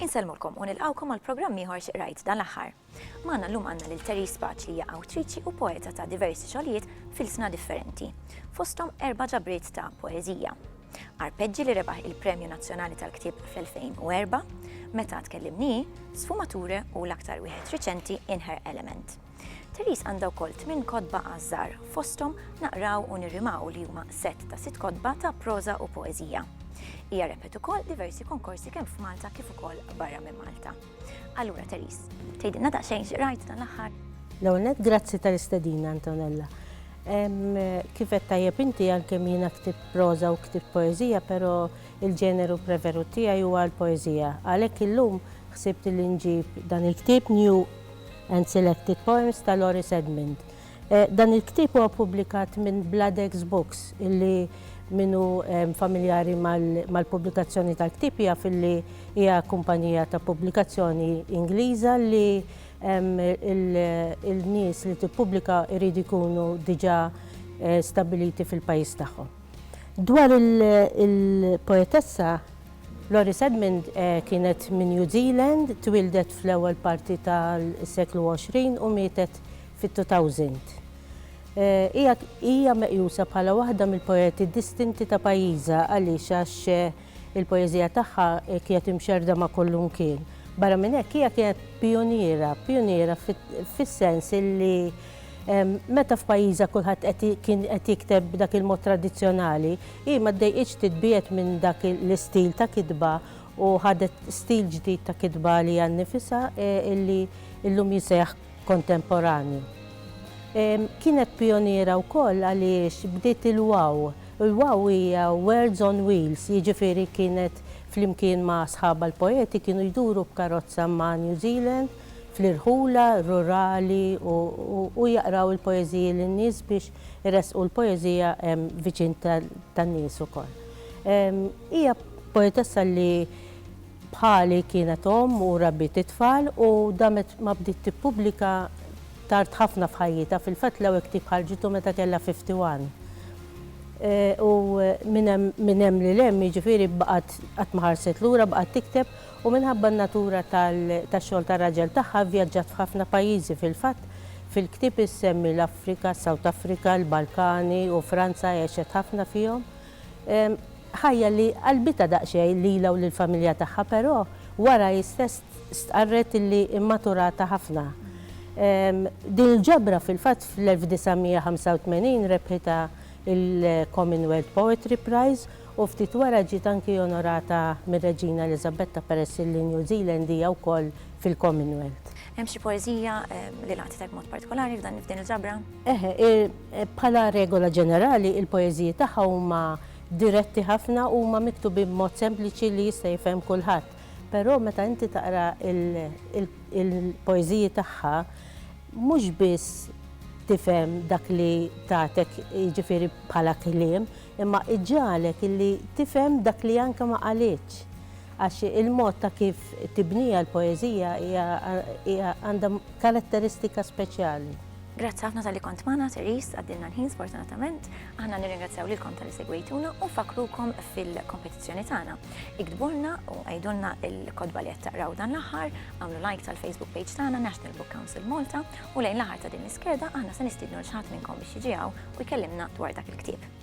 Insellmulkom u nilqawkom għal programm ieħor xi qrajt dan l-aħħar. Magħna llum għandna lil Terry Spaċ li hija awtriċi u poeta ta' diversi xogħlijiet fil-sna differenti, fosthom erba' ġabriet ta' poeżija. Arpeġġi li rebaħ il-Premju Nazzjonali tal-Ktieb fl-2004, meta tkellimni, Sfumature u l-aktar wieħed riċenti Inher Element. Therese għandha wkoll tmien kotba għażżar, fosthom naqraw u nirrimaw li huma set ta' sitt kotba ta' proża u poeżija. Hija rebħet ukoll diversi konkorsi kemm f'Malta kif ukoll barra minn Malta. Allura Teris, tgħidilna daqsxejn xi rajt dan l-aħħar? L-ewwel nett grazzi tal-istedina Antonella. Kif qed tajjeb inti għalkemm jiena ktib proża u ktib poeżija, però il-ġeneru preferut tiegħi huwa l-poeżija. Għalhekk illum ħsibt li nġib dan il-ktieb New and Selected Poems ta' Loris Edmond. Dan il-ktieb huwa ppubblikat minn Bladex Books illi min hu familjari mal-pubblikazzjoni tal-ktieb jaf illi hija kumpanija ta' pubblikazzjoni Ingliża li l-nies li tippubblika jridu jkunu diġà stabbiliti fil-pajjiż tagħhom. Dwar il-poetessa, Loris Edmond kienet minn New Zealand, twieldet fl-ewwel parti tas-seklu 20 u mietet fit-2000. Hija hija meqjusa bħala waħda mill-poeti distinti ta' pajjiżha għaliex għax il-poeżija tagħha kienet imxerrda ma' kollunkien. Barra minn hekk hija kienet pijuniera, pijuniera fis-sens illi meta f'pajjiżha kulħadd qed kien qed jikteb b'dak il-mod tradizzjonali, hi ma ddejqitx titbiegħed minn dak l-istil ta' kitba u ħadet stil ġdid ta' kitba għaliha nnifisha illi llum jiseħħ kontemporanju. Kienet pijoniera wkoll għaliex bdiet il-WOW. Il-WOW hija Words on Wheels, jiġifieri kienet flimkien ma' sħabha l-poeti kienu jduru b'karozza ma' New Zealand, fl-irħula, rurali u jaqraw il-poeżiji lin-nies biex iressqu l-poeżija viċin tan-nies ukoll. Hija poetessa li Bħali kienet omm u rabbiet it-tfal u damet ma bdiet tippubblika tard ħafna f'ħajjitha, fil-fatt l-ewwel ktieb ħarġitu meta kellha 51. U minn hemm minn hemm lil hemm jiġifieri baqgħet qatt ma ħarset lura baqgħet tikteb u minħabba n-natura tal tax-xogħol tar-raġel tagħha vvjaġġat f'ħafna pajjiżi fil-fatt fil-ktieb issemmi l-Afrika, s-South Africa, l-Balkani u Franza għexet ħafna fihom. Ħajja li qalbitha daqsxejn lilha u lill-familja tagħha però wara hi stess stqarret li mmaturatha ħafna. Din il-ġabra fil-fatt fl-1985 rebħitha l-Commonwealth Poetry Prize u ftit wara ġiet anki onorata mir-Reġina Eliżabetta peress li New Zealand hija wkoll fil-Commonwealth. Hemm xi poeżija li laqtitek mod partikolari f'dan f'din il-ġabra? Eħe, bħala regola ġenerali il-poeżiji tagħha huma diretti ħafna u huma miktubin b'mod sempliċi li jista' jifhem kulħadd. Però meta inti taqra il-poeżiji tagħha mhux biss tifhem dak li tagħtek jiġifieri bħala kliem, imma iġġagħlek illi tifhem dak li anke ma qalitx. Għax il-mod ta' kif tibniha l-poeżija hija għandha karatteristika speċjali. Grazzi ħafna talli kont magħna, Therese, għaddilna l-ħin sfortunatament. Aħna nirringrazzjaw lilkom talli segwejtuna u nfakkrukom fil-kompetizzjoni tagħna. Iktbulna u għidulna l-kotba li qed taqraw dan l-aħħar, għamlu like tal-Facebook page tagħna National Book Council Malta u lejn l-aħħar ta' din l-iskeda aħna se nistiednu l xi ħadd minnkom biex jiġi u jkellimna dwar dak il-ktieb.